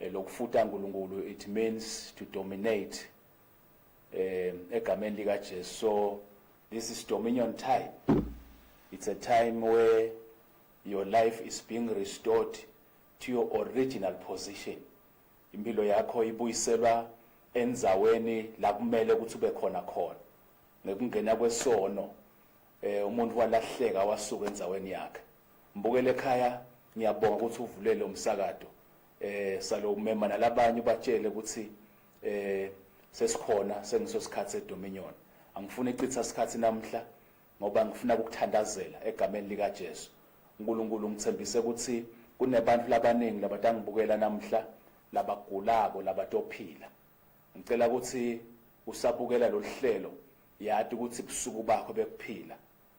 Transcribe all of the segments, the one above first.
eh, lokufuta uNkulunkulu it means to dominate eh egameni lika Jesu so this is dominion time it's a time where your life is being restored to your original position impilo yakho ibuyiselwa enzaweni la kumele ukuthi ube khona khona ngekungena kwesono eh umuntu walahleka wasuka enzaweni yakhe Mbukeli ekhaya ngiyabonga ukuthi uvule lo msakato eh salo umema nalabanye ubatshele ukuthi eh sesikhona sengiso sikhathi sedominion angifuni icitha isikhathi namhla ngoba ngifuna ukuthandazela egameni lika Jesu uNkulunkulu ngithembise ukuthi kunebantu labaningi labatangibukela namhla labagulako labatophila ngicela ukuthi usabukela loluhlelo yati ukuthi busuku bakho bekuphila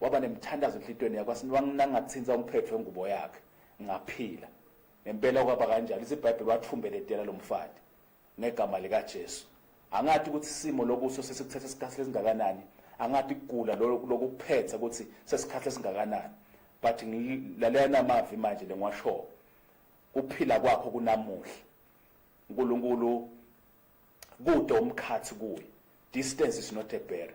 Waba nemthandazo enhlitweni yakho wathi wanginangathinza umphetho wengubo yakhe ngaphila. Ngempela kwaba kanjalo lithi iBhayibheli wathumbeletela lo mfati ngegama likaJesu. Angathi ukuthi isimo lokuso sesikuthatha isikhathi esingakanani, angathi kugula lokuphetha ukuthi sesikhathi esingakanani. But ngilalela namavi manje lengiwashoyo. Kuphila kwakho kunamuhla. uNkulunkulu kude umkhathi kuye. Distance is not a barrier.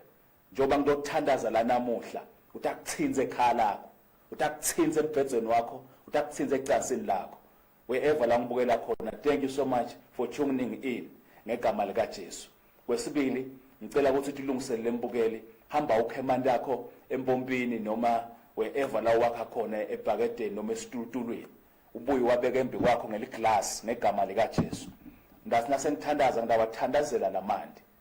Njengoba ngilothandaza la namuhla, uthi akuthintse ekhaya lakho, uthi akuthintse embhedzweni wakho, uthi akuthintse ecansini lakho. Wherever la ngibukela khona, thank you so much for tuning in ngegama likaJesu. Kwesibili, ngicela ukuthi uthi ulungisele lembukeli, hamba ukhe amanti akho empompini noma wherever la wakha khona ebhakedeni noma esitulutulweni. Ubuye wabeke embi kwakho ngeliglass ngegama likaJesu. Ndathi nasengithandaza ngidawathandazela lamanti.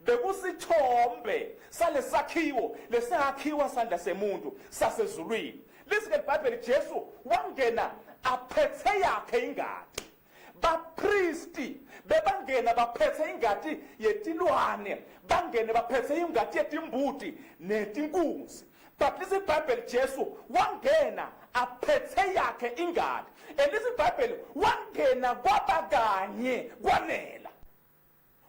Bekusithombe salesakhiwo lesakhiwa sandla semuntu sasezulwini. Lizwi leBhayibheli Jesu wangena aphethe yakhe ingadi. Bapristi bebangena baphethe ingadi yetilwane, bangene baphethe ingadi yetimbuti netinkunzi. But lizwi iBhayibheli Jesu wangena aphethe yakhe ingadi. And lizwi iBhayibheli wangena kwaba kanye kwanele.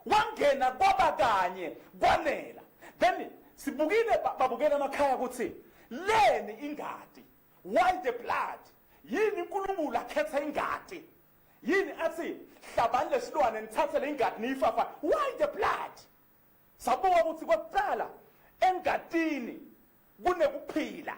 wangena kwaba kanye kwanela then sibukile babukela amakhaya ukuthi leni ingadi why the blood yini uNkulunkulu akhetha ingadi yini athi hlabani lesilwane nithathe le ingadi niyifafa why the blood sabuka ukuthi kokuqala engadini kunekuphila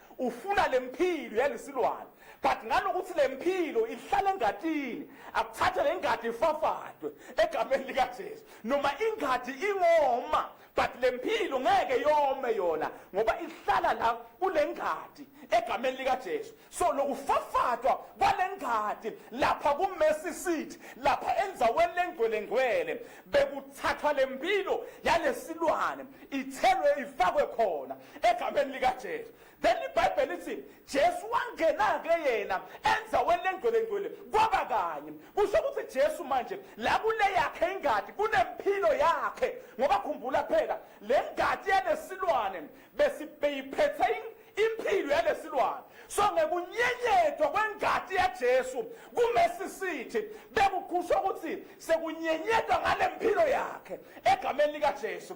ufuna lempilo yalesilwane but ngalokuthi lempilo ihlala engatini akuthathe lengadi ifafadwe egameni lika Jesu noma ingadi ingoma but lempilo ngeke yome yona ngoba ihlala la kulengadi egameni lika Jesu so lokufafadwa kwalengadi lapha ku Mercy Seat lapha enzaweni lengcwele ngcwele bekuthathwa lempilo yalesilwane ithelwe ifakwe khona egameni likaJesu then ibhayibheli lithi Jesu wangena-ke yena enzaweni lengcwelengcwele kwaba kanye kusho ukuthi Jesu manje la kule yakhe ingadi kunempilo yakhe ngoba khumbula phela le ngadi yalesilwane besibeyiphethe impilo yalesilwane so ngekunyenyethwa kwengadi yaJesu kumesi sithi bekuqhusha ukuthi sekunyenyethwa ngale mpilo yakhe egameni likaJesu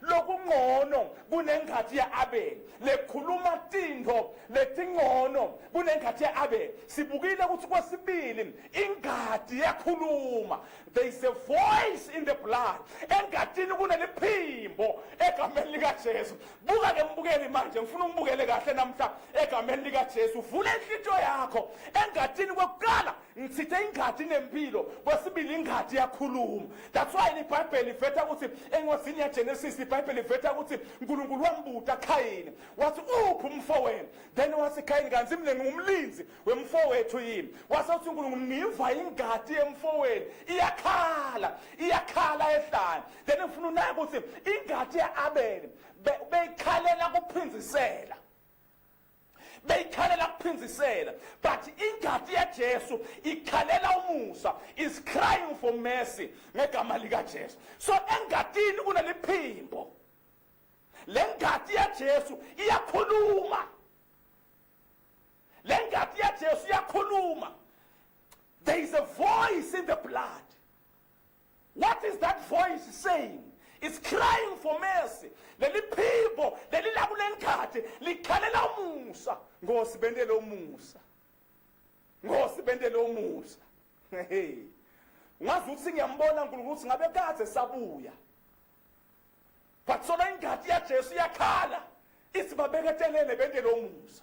lokuncono kunenghathi ya-abeli lekhuluma tintfo letincono kunenghathi ya-abeli sibukile ukuthi kwesibili ingadi yakhuluma there is a voice in the blood engadini kuneliphimbo egameni likajesu buka ke mbukeli manje ngifuna umbukele kahle namhla egameni likajesu vula inhlityo yakho engadini kwekuqala Ngithithe ingadi nempilo kwesibili ingadi yakhuluma that's why libhayibheli livetha ukuthi engozini yagenesis libhayibheli livetha ukuthi unkulunkulu wambuta khayini wathi uphi umfowenu then wathi khayini kanti mina ngingumlinzi wemfowethu yini wase uthi unkulunkulu ngiva ingadi yemfowenu iyakhala iyakhala ehlane then ngifuna unake ukuthi ingadi ya-abele beyikhalela kuphindisela beyikhalela kuphindisela but ingadi yaJesu ikhalela umusa is crying for mercy ngegama likaJesu so engadini kuneliphimbo lengadi yaJesu iyakhuluma lengadi yaJesu iyakhuluma there is a voice in the blood What is that voice saying? It's crying for mercy. Leli phimbo leli lakuleli khathi likhalela umusa. Nkosi bendele umusa. Nkosi bendele umusa. Hey. Ngazi ukuthi ngiyambona uNkulunkulu ukuthi ngabe kade sabuya. Bathola ingadi yaJesu yakhala. Isibabeke telele bendele umusa.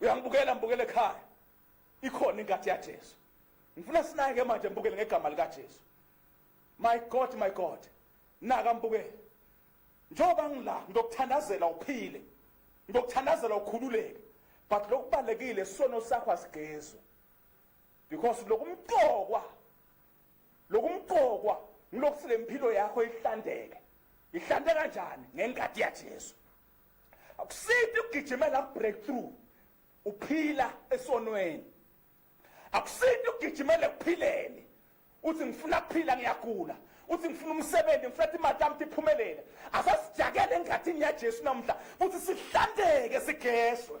uyangibukela ngibukele ekhaya ikhona inkathi yaJesu ngifuna sinake manje ngibukele ngegama likaJesu my god my god naka ngibukele njengoba ngila ngokuthandazela uphile ngokuthandazela ukhululeke but lokubalekile sono sakho asigezwe because lokumqokwa lokumqokwa ngilokuthi lempilo yakho ihlandeke ihlante kanjani ngenkati yaJesu akusiphi ukugijimela breakthrough uphila esonweni akusiphi ukugijimela ekuphileni uthi ngifuna kuphila ngiyagula uthi ngifuna umsebenzi ngifuna ukuthi imali yami iphumelele asasijakele engathini yajesu namhla futhi sihlanzeke sigeshwe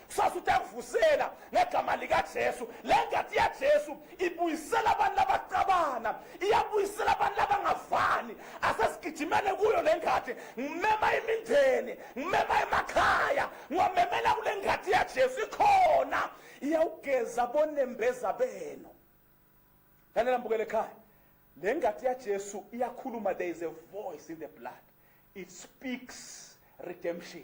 kusasa utavusela ngegama likajesu le ngati ya jesu ibuyisela abantu labacabana iyabuyisela abantu labangavani asesigijimele kuyo le ngati ngimema imindeni ngimema emakhaya ngiwamemela kule ngati ya jesu ikhona iyawugeza bonembeza benu lalela mbukele ekhaya le ngati ya jesu iyakhuluma there is a voice in the blood it speaks redemption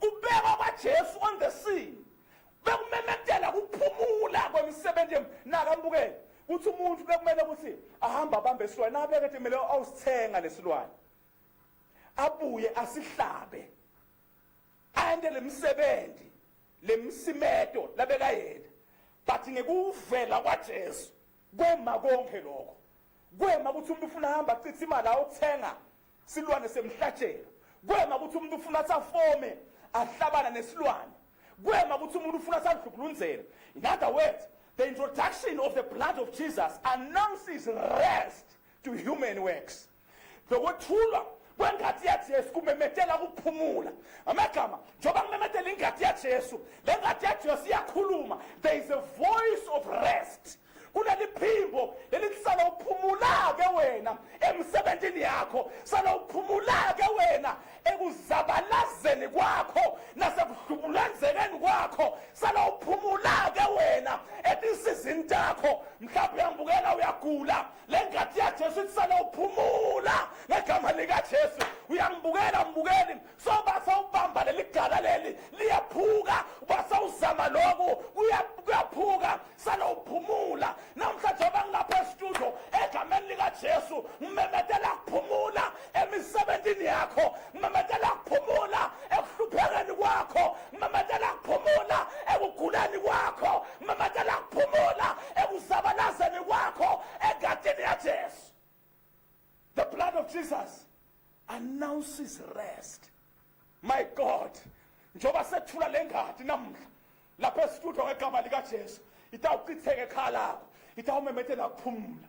Kubekwa kwaJesu on the scene bekumemezela kuphumula kwemisebenzi naka mbukele kuthi umuntu bekumele ukuthi ahambe abambe isilwane abeke ethi kumele awusithenga lesilwane abuye asihlabe ande lemisebenzi lemsimedo labekayena but ngekuvela kwaJesu Kwema konke lokho. Kwema ukuthi umuntu ufuna hamba achithe imali ayothenga silwane semhlatshelo. Kwema ukuthi umuntu ufuna athafome ahlabana nesilwane. Kwema ukuthi umuntu ufuna athadlukulunzela. In other words, the introduction of the blood of Jesus announces rest to human works. zokwethulwa kwengadi yaJesu kumemethela ukuphumula amagama njengoba kumemethela ingadi yaJesu le ngadi yaJesu iyakhuluma there is a voice of rest kuneliphimbo lelikusala uphumula-ke wena emsebenzini yakho sala uphumula-ke wena ekuzabalazeni kwakho nasekudlubulenzekeni kwakho sala uphumula-ke wena etinsizini takho mhlawumbe uyambukela uyagula le ngadi yajesu itisana uphumula ngegama likajesu uyangibukela mbukeli sobasa ubamba leli gala leli liyaphuka ubasa uzama loku kuyaphuka sale uphumula namhlanje obangilapha esitudio egameni likajesu ngimemetela kuphumula emisebenzini yakho mamatela kuphumula ekuhluphekeni kwakho mamatela kuphumula ekuguleni kwakho mamatela kuphumula ekuzabalazeni kwakho egatini yajesu the blood of jesus announces rest my god njengoba sethula le ngadi namuhla lapha esitudio ngegama likajesu itawuchitheke ekhala lakho itawumemethela kuphumula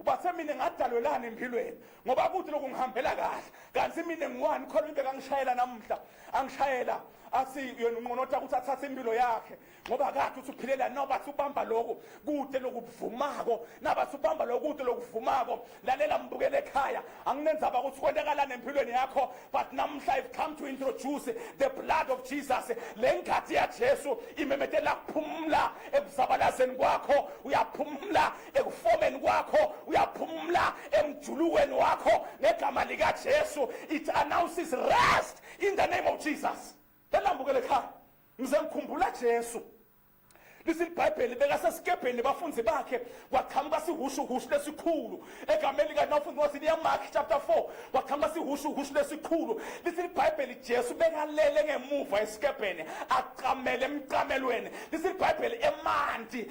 ubathe mina ngadalwelani empilweni ngoba kuthi lokhu ngihambela kahle kanti mina ngiwani khona into kangishayela namuhla angishayela athi yena unqonotha ukuthi athathe impilo yakhe ngoba kade uthi uphilela nobathi ubamba lokhu kude lokubuvumako nabathi ubamba lokhu kude lokuvumako lalela mbukele ekhaya anginenzaba ukuthi kwentekalani empilweni yakho but namuhla i've come to introduce the blood of jesus le nkathi yajesu imemethela kuphumula ekuzabalazeni kwakho uyaphumula ekufomeni kwakho uyaphumula emjulukweni wakho ngegama likaJesu it announces rest in the name of Jesus elambukele ekhaya ngize ngikhumbula Jesu lithi ibhayibheli bekasesikebheni bafunzi bakhe kwaqhamuka sihushuhushu lesikhulu egameni likanawufundi wathi liyamark chapter 4 kwaqhamuka sihushuhushu lesikhulu lithi ibhayibheli jesu bekalele ngemuva esikebheni aqamele emqamelweni lithi ibhayibheli emanti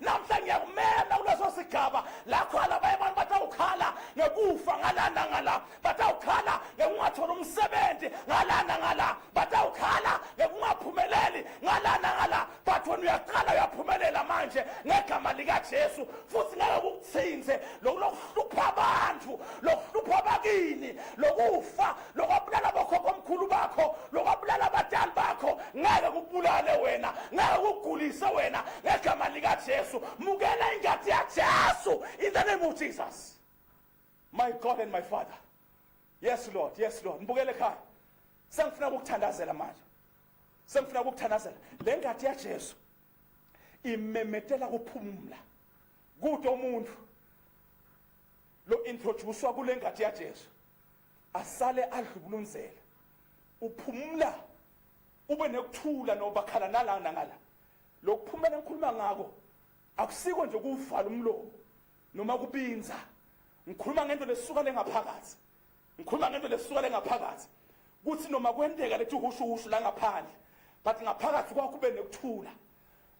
namhla ngiyakumema kuleso sigaba lakhala abanye abantu batawukhala ngekufa ngalana ngala batawukhala ngekungathola umsebenzi ngalana ngala batawukhala ngekungaphumeleli ngalana ngala but wena uyaqala uyaphumelela manje ngegama likajesu futhi ngeke kukuthinthe lokulokuhlupha abantu lokuhlupha abakini lokufa lokwabulala bokhokho omkhulu bakho lokwabulala abadali bakho ngeke kubulale wena ngeke kugulise wena ngegama likajesu mukela ingadi yajesu in the name of jesus my god and my father yes lord yes lord ngibukele ekhaya sengifuna ukukuthandazela manje sengifuna ukukuthandazela le ngadi yajesu imemetela kuphumula kude umuntu lo introducewa kule ngadi yajesu asale adlubulunzela uphumula ube nekuthula nobakhala nala nangala lokuphumela ngikhuluma ngako akusiko nje kuvala umlomo noma kubinza ngikhuluma ngento lesuka lengaphakathi ngikhuluma ngento lesuka lengaphakathi kuthi noma kwenteka lethi uhushuhushu la ngaphandle but ngaphakathi kwakho kube nekuthula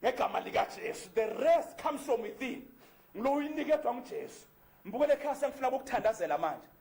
ngegama likaJesu the rest comes from within ngiloyinikethwa nguJesu mbukele ekhaya sengifuna ukuthandazela manje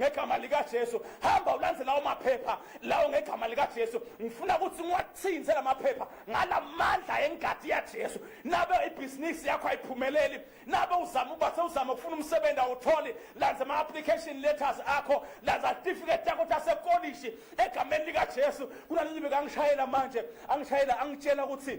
ngegama likaJesu hamba ulandze lawo maphepha lawo ngegama likaJesu ngifuna ukuthi ngiwathinze la maphepha ngalamandla engadi yaJesu nabe ibhizinisi yakho ayiphumeleli nabe uzama ukuba sewuzama ukufuna umsebenzi awutholi landza ama-application letters akho landza certificate yakho tasekolishi egameni likaJesu kunalelibe kangishayela manje angishayela angitshela ukuthi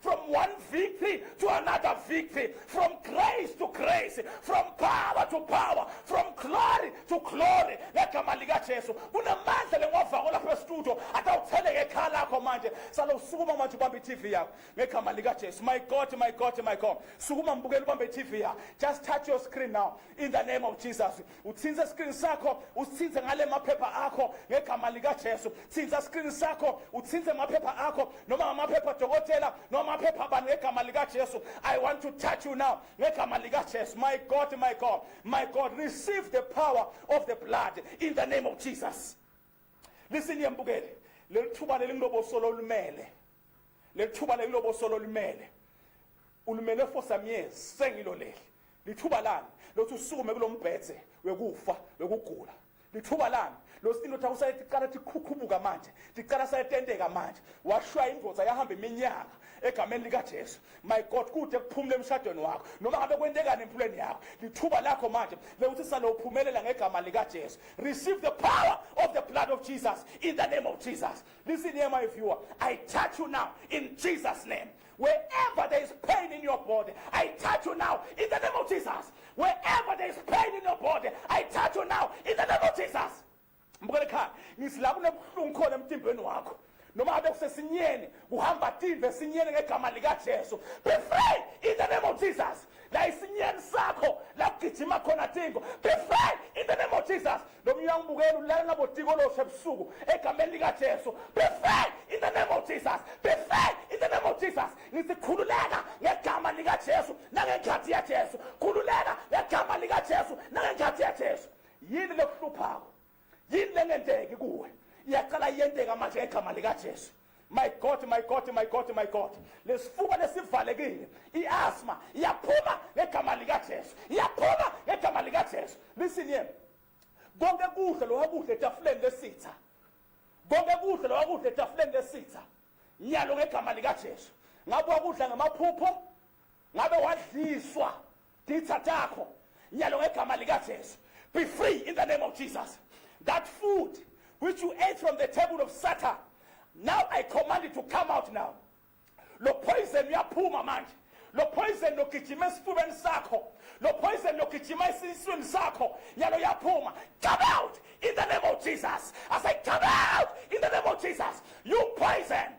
from one victory to another victory, from grace to grace, from power to power, from glory to glory. ngegama likajesu kunamandla lengiwavako lapha estudio atawutheleke ekhaya lakho manje sale usukuma manje ubambe i-tv yakho ngegama likajesu my god my god my god sukuma mbukela ubambe i-tv yakho just touch your screen now in the name of jesus uthintse esikrini sakho usithinthe ngale maphepha akho ngegama likajesu thintha esikrini sakho uthinthe maphepha akho noma ngamaphepha dokotela noma amaphepha abani ngegama likajesu i want to touch you now ngegama likajesu my god my god my god receive the power of the blood in the name of jesus listen yembukele leli thuba leli ngilobosolo olumele leli thuba leli ngilobosolo olumele ulumele for some years sengiloleli Lithuba lani lothi usukume kulombhedze wekufa wekugula lithuba lami losindoda usaye tiqala tikhukhubuka manje tiqala sayetenteka manje washaya indvodza yahamba iminyaka egameni likajesu my god kude kuphumula emshadweni wakho noma ngabe kwentekani empilweni yakho lithuba lakho manje lekuthi sale uphumelela ngegama likajesu receive the power of the blood of jesus in the name of jesus listen here my viewer i touch you now in jesus name Wherever there is pain in your body, I touch you now in the name of Jesus. Wherever there is pain in your body, I touch you now in the name of Jesus. Mbukele khaya, ngithi la kunebuhlungu khona emtimbeni wakho. Noma abe kusesinyeni, kuhamba timbe esinyeni ngegama lika Jesu. Be free in the name of Jesus. la isinyeni sakho la kugijima khona tingo be free in the name of jesus lo mnyaka ubukela ulala nabo tiko loshe ebusuku egameni likajesu be free in the name of jesus be free in the name of jesus ngithi khululeka ngegama likajesu nangenkhathi yajesu khululeka ngegama likajesu nangenkhathi yajesu yini lokuhluphako yini lengenteki kuwe iyacala iyenteka manje ngegama likajesu my god my god my god my god lesifuba lesivalekile iasma iyaphuma ngegama likajesu iyaphuma ngegama likajesu listen here konke kudla lowa kudla etafuleni lesitha konke kudla lowa kudla etafuleni lesitha nyalo ngegama likajesu ngabe wakudla ngamaphupho Ngabe wadliswa ditha takho nyalo ngegama likaJesu. Be free in the name of Jesus. That food which you ate from the table of Satan. Now I command it to come out now. Lo poison uyaphuma manje. Lo poison logijima esifubeni sakho. Lo poison logijima esiswini sakho. Nyalo yaphuma. Come out in the name of Jesus. I say come out in the name of Jesus. You poison.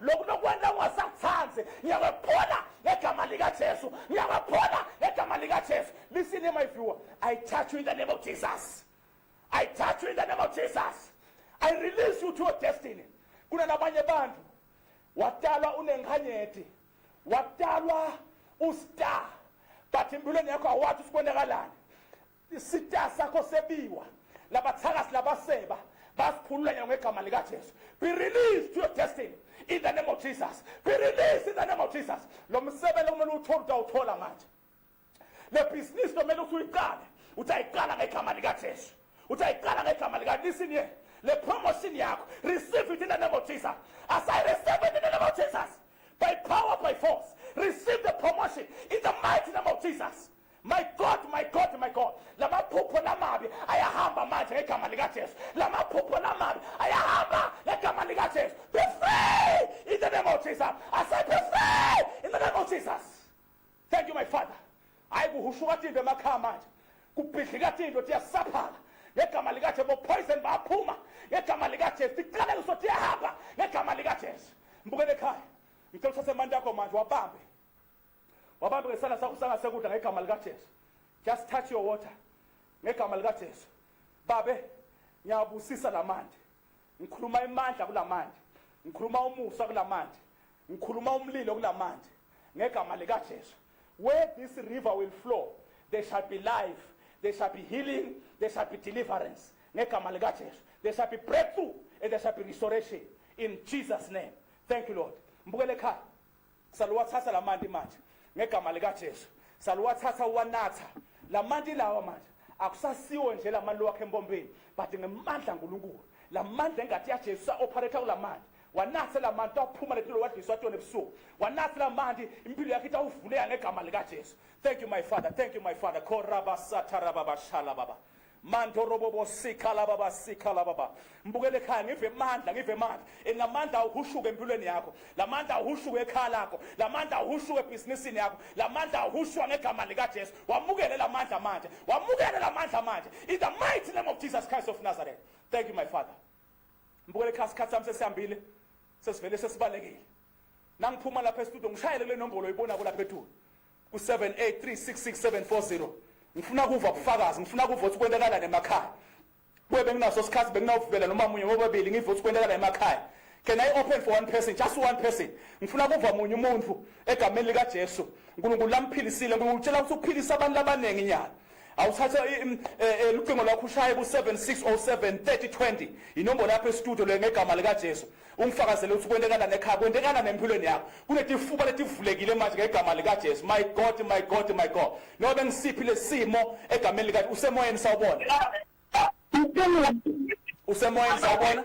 lokhu nokwenza ungasathandi ngiyakwephula ngegama likajesu ngiyakwephula ngegama likajesu listen here my viewer i touch you in the name of jesus i touch you in the name of jesus i release you to your destiny kunalabanye bantu watalwa unenkhanyeti watalwa ustar but empilweni yakho awathi usibonakalani Isita sakho sebiwa labathakasi labaseba basikhulula nyalo ngegama likaJesu be released to your destiny in the name of Jesus be released in the name of Jesus lo msebenzi kumele uthole utawuthola manje le business kumele uthi uyiqale utayiqala ngegama likaJesu utayiqala ngegama lika listen here le promotion yakho receive it in the name of Jesus as I receive it in the name of Jesus by power by force receive the promotion in the mighty name of Jesus My God, my God, my God. Lamaphupho lamabi ayahamba manje ngegama lika Jesu. Lamaphupho lamabi ayahamba ngegama lika Jesu. Be free in the name of Jesus. I said be free in the name of Jesus. Thank you my Father. Hayi kuhushuka tindwe emakhaya manje. Kubhidlika tindwe tiyasaphana. Ngegama lika Jesu bo poison baphuma. Ngegama lika Jesu tiqale kusothi yahamba ngegama lika Jesu. Mbukele ekhaya. Ngicela uthathe amandla akho manje wabambe. wabambe ngesandla sakho sangasekudla ngegama likaJesu just touch your water ngegama likaJesu babe ngiyabusisa lamanti ngikhuluma imandla kulamanti ngikhuluma umusa kulamanti ngikhuluma umlilo kulamanti ngegama likaJesu where this river will flow there shall be life there shall be healing there shall be deliverance ngegama likaJesu there shall be breakthrough and there shall be restoration in Jesus name thank you lord mbukele ekhaya Saluwathatha la manti manje ngegama likaJesu. Saluwathatha uwanatha. La manti lawa manje akusasiwo nje la manti wakhe empompeni but ngemandla uNkulunkulu. La mandla engathi yaJesu sa operator kula manti. Wanatha la manti aphuma lempilo wadliswa tona ebusuku. Wanatha la manti impilo yakhe itawuvuleka ngegama likaJesu. Thank you my father. Thank you my father. Koraba sataraba bashala baba. Manto robobo sikha laba basikha laba ba. Mbukele ekhaya ngive amandla ngive amandla. Enamandla awuhushuke empilweni yakho. Lamandla awuhushuke ekhaya lakho. Lamandla awuhushuke ebhizinisini yakho. Lamandla awuhushuka ngegama lika Jesu. Wamukele lamandla manje. Wamukele lamandla manje. In the mighty name of Jesus Christ of Nazareth. Thank you my father. Mbukele ekhaya isikhathi sami sesihambile. Sesivele sesibalekile. Nangiphuma lapha estudio ngishayele le nombolo oyibona ko lapha ethu. ku-7836670 ngifuna kuva ubufakazi ngifuna kuva ukuthi kwentekalani emakhaya kuye benginaso sikhathi benginawuvubela noma munye ngobabili ngiva ukuthi kwentekalani emakhaya can i open for one person just one person ngifuna kuva munye umuntu egameni likajesu nkulunkulu lamphilisile nkulunkulu utshela ukuthi ukuphilisa abantu abaningi nyana awuthatha lucingo lwakho ushaye ku-7607 3020 inombolo yakho estudio le ngegama likajesu ungifakazele ukuthi kwentekana nekhaya kwentekana nempilweni yakho kunetifuba letivulekile manje ngegama likajesu my god my god my god noma bengisiphi lesimo egameni likathi usemoyeni sawubona usemoyeni sawubona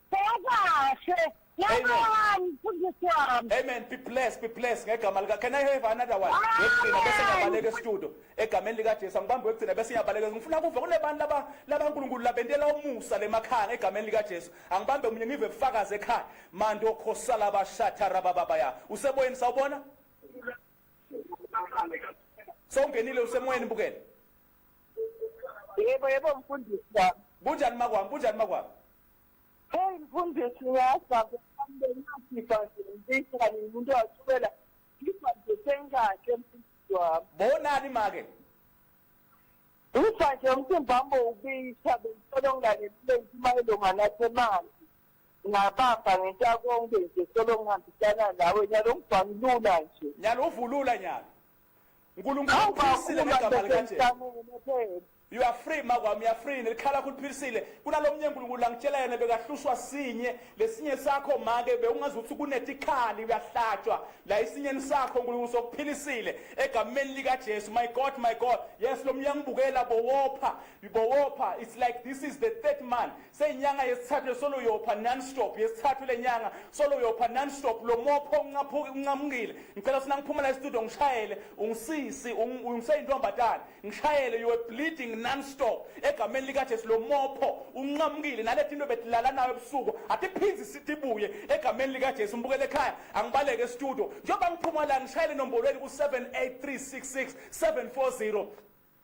Sekahle. Yabani mfundisi wami. Amen. Be blessed, be blessed ngegama lika. Can I have another one? Ngigcina bese ngiyabaleka estudio. Egameni lika Jesu angibambe wegcina bese ngiyabaleka. Ngifuna kuve kunebantu laba laba uNkulunkulu labentela umusa lemakhaya ngegameni lika Jesu. Angibambe umunye ngive bufakaze ekhaya. Mando khosala bashatha rabababa ya. Useboyeni sawubona? Sawungenile usemoyeni bukela. Yebo yebo mfundisi wami. Kunjani makwami? Kunjani makwami? Hey mfundisi ngiyazwa kuhambe ngasifa nje ngifisa kanye umuntu wasukela ngifa nje sengahle mfundisi wami. Bonani make? Ufa nje umthemba wami ubisha bengicela ungane kule ntimayelo nganathe manje. Ngabamba ngenta konke nje solo ngihambisana nawe nyalo ngibhamlula nje. Nyalo uvulula nyalo. uNkulunkulu uphilisile ngegama likaJesu you are free makwami you are free nelikhala kuliphilisile kunalomnye uNkulunkulu angitshela yena bekahlushwa sinye lesinye sakho make bewungazi ukuthi kunetikhali uyahlatshwa la isinyeni sakho uNkulunkulu sokuphilisile egameni lika Jesu my god my god yes lomnye angibukela bowopha bowopha it's like this is the third man seyinyanga yesithathu lesolo uyopha non-stop yesithathu le nyanga solo uyopha non-stop lo mopho uncamukile ngicela sina ngiphuma la estudio ngishayele ungisisi ungiseyintombazane ngishayele you are bleeding non-stop egameni likajesu lo mopho unqamukile nalethi into betilala nayo ebusuku atiphinzi sitibuye egameni likajesu ngibukele ekhaya angibaleke estudio njengoba ngiphuma la ngishayele enombolweni ku-78366 740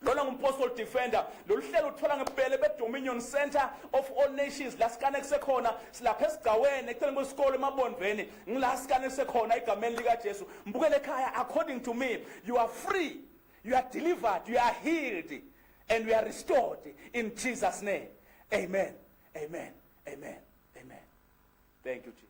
Lona ngumpostal defender lolu hlelo uthola ngebhele bedominion center of all nations la sikane kusekhona silapha esigcaweni eceleni kwesikole emabondveni ngila sikane kusekhona egameni likajesu mbukele ekhaya according to me you are free you are delivered you are healed and you are restored in jesus name amen amen amen amen thank you jesus